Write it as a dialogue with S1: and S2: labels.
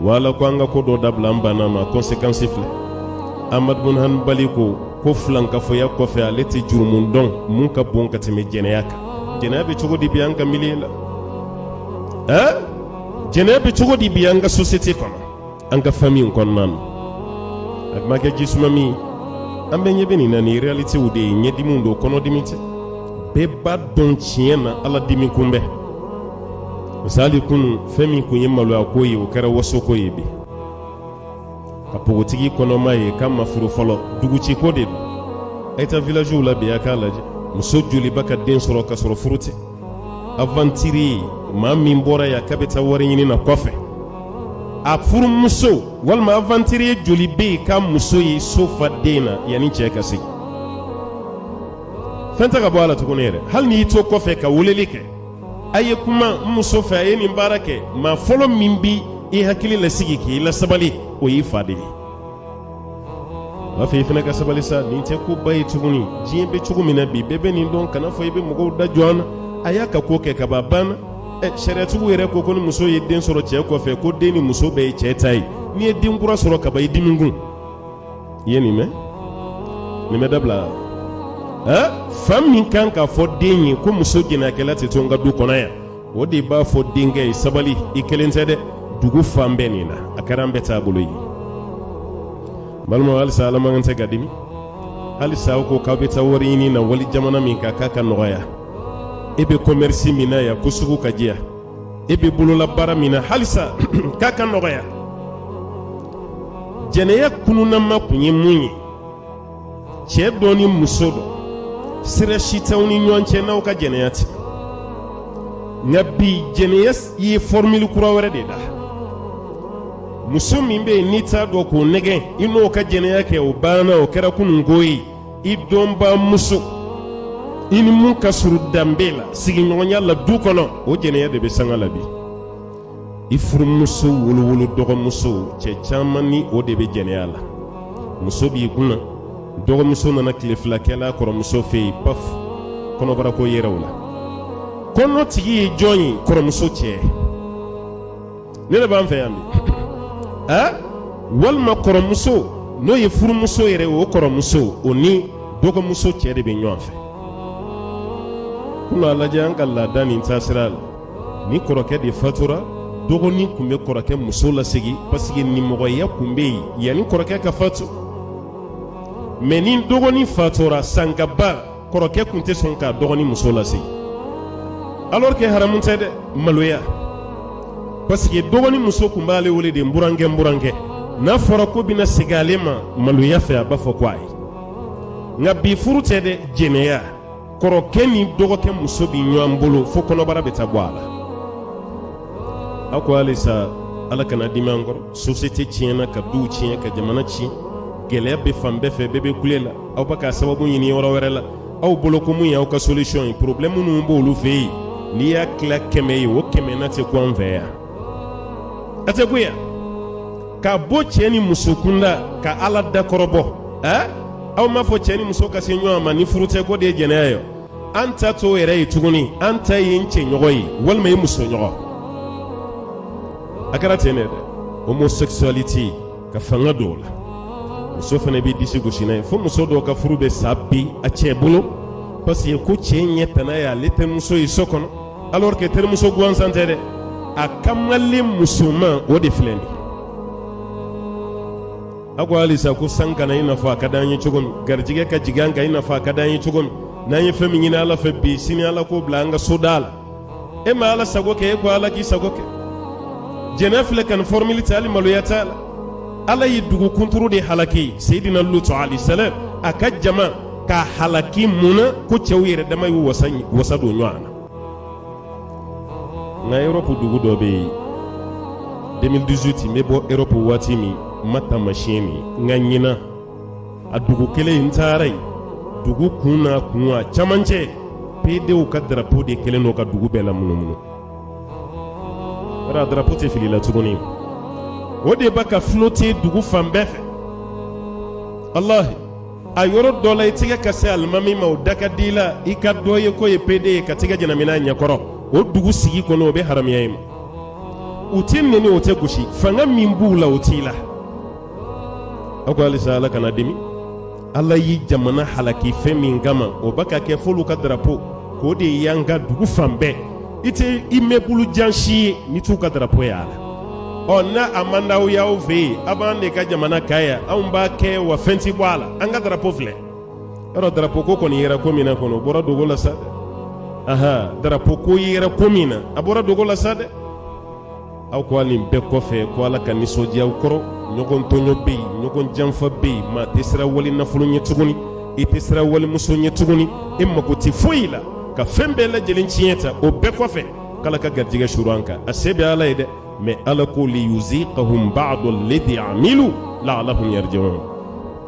S1: wa ala ko an ka ko dɔ dabila an banna a ma kɔnsekansi filɛ amadu bun hanbali ko ko filankafoya kɔfɛ ale tɛ jurumu dɔn mun ka bon ka tɛmɛ jɛnɛya kan jɛnɛya bɛ cogo di bi an ka miliye la ɛɛ jɛnɛya bɛ cogo di bi an ka sosiyete kɔnɔ an ka famiw kɔnɔna na a kuma kɛ jisuma min an bɛɛ ɲɛ bɛ nin na nin realitew de ye ɲɛdimi don kɔnɔdimi tɛ bɛɛ b'a dɔn tiɲɛ na ala dimi kun bɛ misali kunun fɛn min kun ye maloya ko ye o kɛra wasoko ye bi ka pogotigi kɔnɔma ye k'a ma furu fɔlɔ duguciko de don a ye taa vilaziw la bi a k'a lajɛ muso joli bɛ ka den sɔrɔ ka sɔrɔ furu tɛ avantiri maa min bɔra yan k'a bɛ taa wari ɲini na kɔfɛ a furumuso walima avantiri joli bɛ yen k'a muso ye so fa den na yanni cɛ ka segin fɛn tɛ ka bɔ a la tuguni yɛrɛ hali n'i y'i to kɔfɛ ka weleli kɛ a ye kuma n muso fɛ a ye nin baara kɛ maa fɔlɔ min bi i hakili lasigi k'i lasabali o y'i fa de ye b'a fɛ i fana ka sabali sa nin tɛ koba ye tuguni diɲɛ bɛ cogo min na bi bɛɛ bɛ nin dɔn kana fɔ i bɛ mɔgɔw da jɔ an na a y'a ka ko kɛ kaban a banna ɛ sariyatigiw yɛrɛ ko ko ni muso ye den sɔrɔ cɛ kɔfɛ ko den ni muso bɛɛ ye cɛ ta ye n'i ye den kura sɔrɔ kaban i dimi kun i ye nin mɛn nin bɛɛ dabila fa min kan k'a fɔ den ye ko muso jɛnɛyakɛla tɛ to n ka du kɔnɔ yan o de b'a fɔ denkɛ ye sabali i kelen tɛ dɛ dugu fan bɛɛ nin na a kɛra an bɛɛ taabolo ye balima halisa ala man kan tɛ ka dimi halisa aw ko k'aw bɛ taa wari ɲini na wali jamana min kan k'a ka nɔgɔya e bɛ kɔmɛrisi min na yan ko sugu ka diya e bɛ bolola baara min na halisa k'a ka nɔgɔya jɛnɛya kununama kun ye mun ye cɛ dɔ ni muso dɔ sira si t'aw ni ɲɔgɔn cɛ n'aw ka jɛnɛya tɛ nka bi jɛnɛya ye fɔrmili kura wɛrɛ de da muso min bɛ yen n'i t'a dɔn k'o nɛgɛn i n'o ka jɛnɛya kɛ o banna o kɛra kununko ye i dɔnbaa muso i ni min ka surun danbe la sigiɲɔgɔnya la du kɔnɔ o jɛnɛya de bɛ sanga la bi i furumuso wolowolo dɔgɔmuso cɛ caman ni o de bɛ jɛnɛya la muso b'i kunna dɔgɔmuso nana kile fila kɛla kɔrɔmuso fɛ yen paf kɔnɔbarako yera o la kɔnɔ tigi ye jɔn ye kɔrɔmuso cɛ nin de b'an fɛ yan bi aa walima kɔrɔmuso n'o ye furumuso yɛrɛ o kɔrɔmuso o ni dɔgɔmuso cɛ de bɛ ɲɔgɔn fɛ kunun a lajɛ an ka laada ni taasira la ni kɔrɔkɛ de fatura dɔgɔnin kun bɛ kɔrɔkɛ muso lasigi paseke nimɔgɔya kun bɛ yen yanni kɔrɔkɛ ka fatu mɛ ni dɔgɔnin fatura sanga ba kɔrɔkɛ tun tɛ sɔn k'a dɔgɔnin muso lasigi alors que haramu tɛ dɛ maloya parce que dɔgɔnin muso tun b'ale wele de n burankɛ n burankɛ n'a fɔra ko bɛna sigi ale ma maloya fɛ a b'a fɔ ko ayi nka bi furu tɛ dɛ jɛnɛya kɔrɔkɛ ni dɔgɔkɛ muso bɛ ɲɔgɔn bolo fo kɔnɔbara bɛ taa bɔ a la a ko halisa ala kana dimi an kɔrɔ sosiyete tiɲɛna ka duw tiɲɛ ka jamana tiɲɛ gɛlɛya bɛ fan bɛɛ fɛ bɛɛ bɛ kule la aw bɛ k'a sababu ɲini yɔrɔ wɛrɛ la aw bolo ko mun y'aw ka solution ye problème minnu b'olu fɛ yen n'i y'a tila kɛmɛ ye o kɛmɛnan tɛ kun an fɛ yan a tɛ kun yan ka bɔ cɛ ni muso kunda ka ala dakɔrɔbɔ ɛɛ aw m'a fɔ cɛ ni muso ka se ɲɔgɔn ma ni furu tɛ k'o de ye jɛnɛya ye an ta t'o yɛrɛ ye tuguni an ta ye n cɛ ɲɔgɔn ye walima i muso ɲɔgɔn a kɛra ten de dɛ homosexualité ka fanga dɔw la muso fana bɛ disi gosi n'a ye fo muso dɔ ka furu bɛ sa bi a cɛ bolo parce que ko cɛ ɲɛ tana ye ale terimuso ye so kɔnɔ alors que terimuso gansan tɛ dɛ a kamalen musoman o de filɛ nin ye a ko halisa ko san ka na i n'a fɔ a ka d'an ye cogo min garijɛgɛ ka jigin an kan i n'a fɔ a ka d'an ye cogo min n'an ye fɛn min ɲini ala fɛ bi sini ala k'o bila an ka soda la e ma ala sago kɛ e ko ala k'i sago kɛ diɲɛ filɛ ka nin fɔrɔmili ta hali maloya t'a la ala ye dugu kunturu de halaki seyidina lutu alayisalaam a ka jama ka halaki mun na ko cɛw yɛrɛ dama y'u wasa don ɲɔgɔn na nka yɔrɔpu dugu dɔ bɛ yen 2018 n bɛ bɔ yɔrɔpu waati min n ma taamasiyɛn min n ka ɲinan a dugu kelen in n taara yen dugu kun n'a kun a camancɛ pedew ka darapo de kɛlen don ka dugu bɛɛ lamunumunu a darapo tɛ fili la tuguni o de b'a ka flote dugu fan bɛɛ fɛ walahi a yɔrɔ dɔ la i tɛgɛ ka se alimami ma o da ka di i la i ka dɔ ye k'o ye pede ye ka tɛgɛ ɲɛnamina ɲɛkɔrɔ o dugu sigi kɔnɔ o bɛ haramuya i ma u tɛ nɛni o tɛ gosi fanga min b'u la o t'i la a ko halisa ala kana dimi ala ye jamana halaki fɛn min kama o b'a ka kɛ f'olu ka darapo k'o de y'an ka dugu fan bɛɛ i tɛ immeuble jan si ye n'i t'u ka darapo y'a la ɔ n'a a man d'aw y'aw fɛ yen a b'an de ka jamana kan yan anw b'a kɛ wa fɛn ti bɔ a la an ka darapo filɛ yɔrɔ darapo ko kɔni yera ko min na kɔni o bɔra dogo la sa dɛ aha darapo ko yera ko min na a bɔra dogo la sa dɛ aw ko nin bɛɛ kɔfɛ ko ala ka nisɔndiya aw kɔrɔ ɲɔgɔn tɔɲɔ bɛ yen ɲɔgɔn janfa bɛ yen maa tɛ siran wali nafolo ɲɛ tuguni i tɛ siran walimuso ɲɛ tuguni e mako tɛ foyi la ka fɛn bɛɛ lajɛlen tiɲɛ tan o bɛɛ kɔfɛ k'ala ka garijɛgɛ suru an kan a se bɛ ala ye dɛ mais ala ko liyuzikahum ba'da ladi amilu la'alahum yarji'un